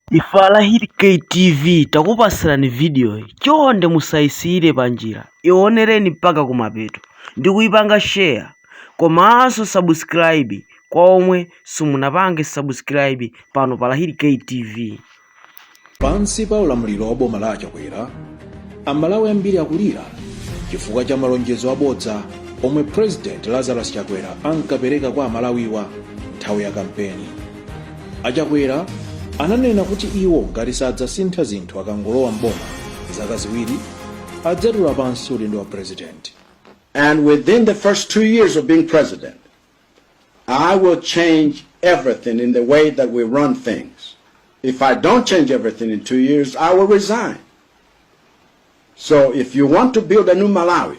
Ife a Lahiri K TV takupatsirani vidiyoyi. Chonde musayisiyire panjira, iwonereni mpaka kumapeto ndi kuipanga share komanso subscribe kwa omwe simunapange subscribe pano pa Lahiri K TV. Pansi pa ulamuliro wa boma la Achakwera, Amalawi ambiri akulira chifukwa cha malonjezo abodza omwe President Lazarus Chakwera ankapereka kwa Amalawiwa nthawi ya kampeni. a chakwera ananena kuti iwo ngati sadzasintha zinthu akangolowa m'boma zaka ziwiri adzatula pansi udindo wa president And within the first two years of being president, I will change everything in the way that we run things. If I don't change everything in two years, I will resign. So if you want to build a new Malawi,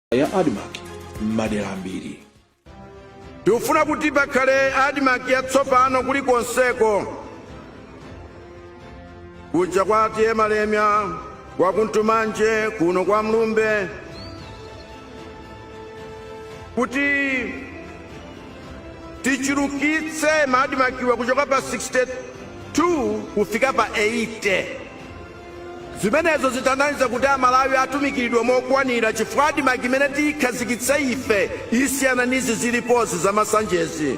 ya admarc m'madera ambiri tikufuna kuti pakhale admarc yatsopano kulikonseko kuja kwa atiye malemya kwa kuntumanje kuno kwa mlumbe kuti tichulukitse maadimakiwa kuchoka pa 62 kufika pa 80 Zimenezo zitanthauza kuti Amalawi atumikilidwa mokwanira chifukwa admarc imene tiyikhazikitse ife isiyana ndi izi zilipozi za masanjezi.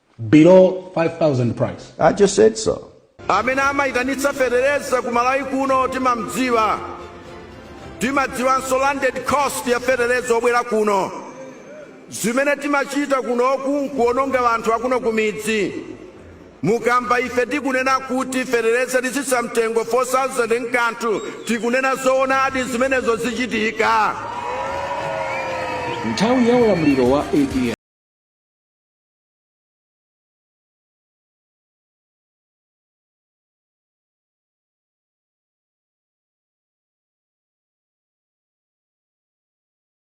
below 5,000 price. I just said so. amene amayitanitsa fetereza ku malawi kuno timamdziwa timadziwanso landed cost ya fetereza obwera kuno zimene timachita kunoku n'kuononga anthu akuno kumidzi mukamva ife tikunena kuti fetereza titsitsa mtengo 4000 n'kanthu tikunena zoonadi zimenezo zichitika nthawi ya ulamuliro wa apm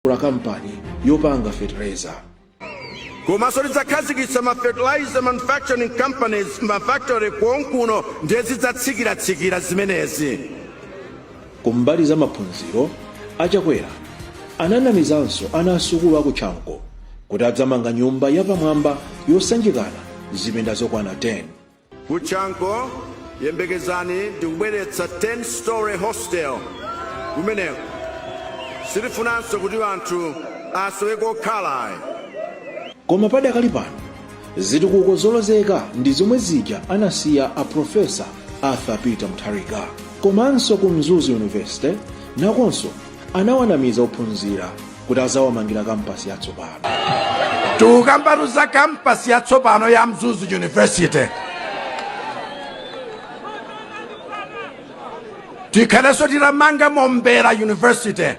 kula kampani yopanga fetereza komanso tidzakhazikitsa ma fertilizer manufacturing companies mafactory konkuno ndiye zidzatsikira-tsikira zimenezi Kumbali za maphunziro, a Chakwera ananamizanso ana a sukulu a ku Chanco kuti adzamanga nyumba yapamwamba yosanjikana zipinda zokwana 10. Ku Chanco, yembekezani ndikubweretsa 10 story hostel kumeneko. Sitifunanso kuti anthu asowe kokhala ayi. Koma padakali pano, zitukuko zolozeka ndi zomwe zija anasiya a profesa arthur peter mutharika komanso ku mzuzu university nakonso anawanamiza ophunzira kuti adzawamangira kampasi yatsopano tikukambatu za kampasi yatsopano ya mzuzu university tikhalenso titamanga mombera university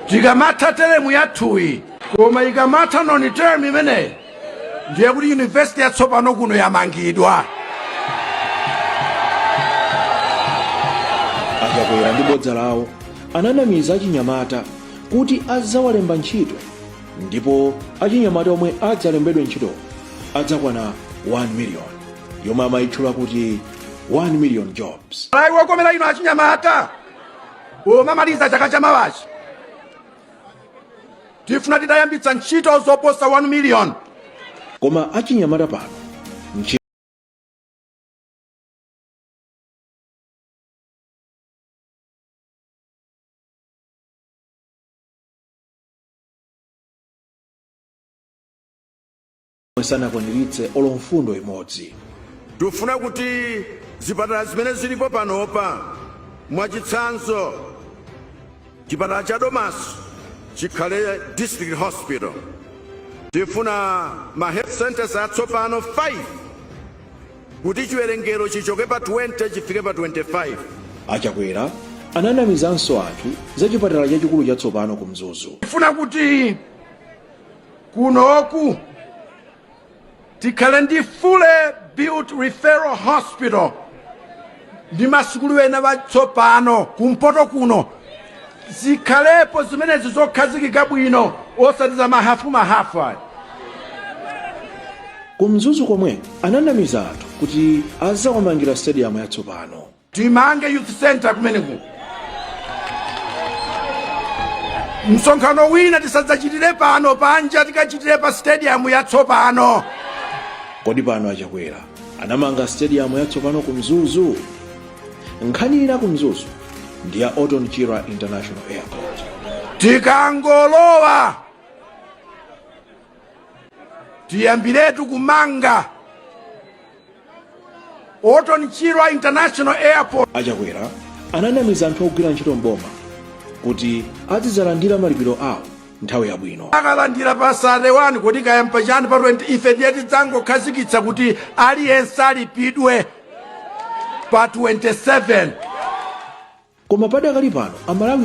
tikamatha teremu yathuyi koma ikamatha noni term imeneyi ndi yakuti yunivesiti yatsopano kuno yamangidwa achakwera ndi bodza lawo ananamiza achinyamata kuti adzawalemba ntchito ndipo achinyamata omwe adzalembedwe ntchito adzakwana 1 million yomwe amayitchula kuti 1 million jobs Hi 5 yokomera inu achinyamata pomamaliza chaka cha mawachi tifuna titayambitsa ntchito zoposa 1 miliyoni koma achinyamata pano nchi- omwe sanakwaniritse olo mfundo imodzi. Tikufuna kuti zipatala zimene zilipo panopa mwachitsanzo chipatala cha Domasi chikhale district hospital. Tifuna ma health centers atsopano 5 kuti chiwerengero chichoke pa 20 chifike pa 25. A Chakwera ananamizanso anthu za chipatala chachikulu chatsopano ku Mzuzu. Tifuna kuti kunoku tikhale ndi fully built referral hospital ndi masukulu ena atsopano kumpoto kuno zikhalepo zimenezi zokhazikika bwino osati za mahafu mahafu ayi ku mzuzu komwe ananamiza anthu kuti adzawamangira stadium yatsopano timange youth center kumeneko msonkhano wina tisadzachitire pano panja tikachitire pa stadium yatsopano kodi pano achakwera anamanga stadium yatsopano ku mzuzu nkhani ina ku mzuzu ndi ya orton chirwa international airport tikangolowa tiyambiretu kumanga Orton Chirwa International Airport. a Chakwera ananamiza anthu ogwira ntchito m'boma kuti azidzalandira malipiro awo nthawi yabwino akalandira pa 31 koti kayamba chani pa 20 ife ndiye tidzangokhazikitsa kuti aliyense alipidwe pa 27 koma padakali pano Amalawi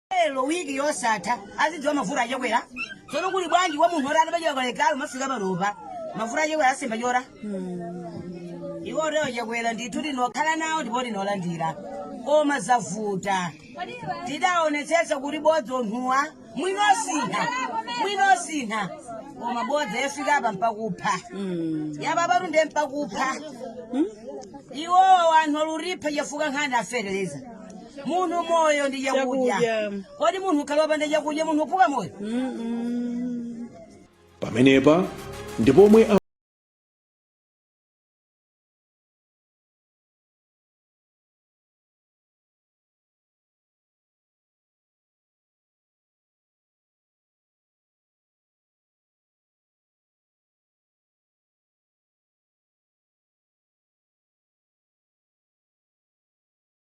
Lero week yosatha azidziwa mavuto a Chakwera. Tsono kuli bwanji kwa munthu oti anapachika kale galu mafika panopa. Mavuto a Chakwera asemba chora. Iwo leo Chakwera ndithu tinokhala nawo ndipo tinolandira. Koma zavuta. Tidaonetsetsa kuti bodza anthuwa mwina asintha. Mwina asintha. Koma bodza yafika apa mpaka kupha. Yababatu ndiye mpakupha. Iwo anthu oluripha chafuka nkhani afereleza. munthu moyo ndi chakudya Chakudya. kodi munthu akakhala wopanda chakudya munthu uphuka moyo Mm-mm. pamenepa ndi pomwe a-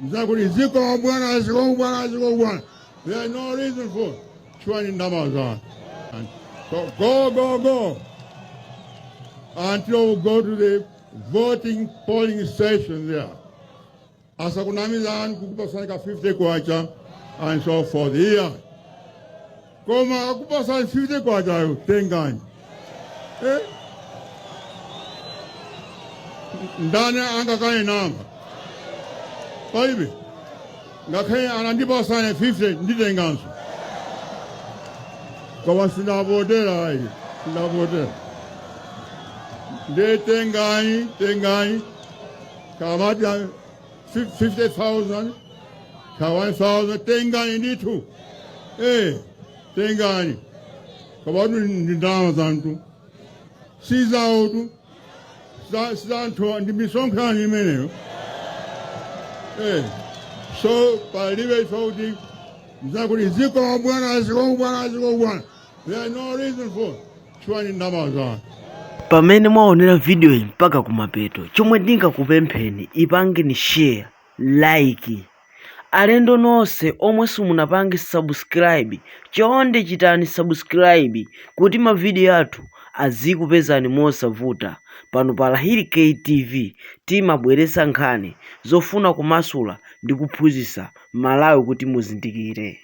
nzakuti zikomo bwana zikomo bwana zikomo bwana there is no reason for chwani ndalama za anthu And so go go go until we go to the voting polling station there asakunamizani kukupasani ka 50 kwacha and so forth here koma akupatsani 50 kwachayo tengani eh? ndani angakane nanga palibe ngakhale atandipatsa 50 nditenganso koma sindavotera ayi sindavotera nde tengani tengani kamati Fif- 50,000 ka 1,000 tengani ndithu eh tengani kabatu ndi ndalama zanu si zawotu za- si zanthu ndi misonkho imeneyo eh so palibe ife kuti mzakuti zikomo bwana zikomo bwana zikomo bwana pamene mwaonera video iyi mpaka kumapeto chomwe ndingakupempheni ipangeni share like alendo nonse omwe simunapange subscribe chonde chitani subscribe kuti mavidiyo athu azikupezani mosavuta pano pa Lahiri KTV timabweretsa nkhani zofuna kumasula ndi kuphunzitsa Amalawi kuti muzindikire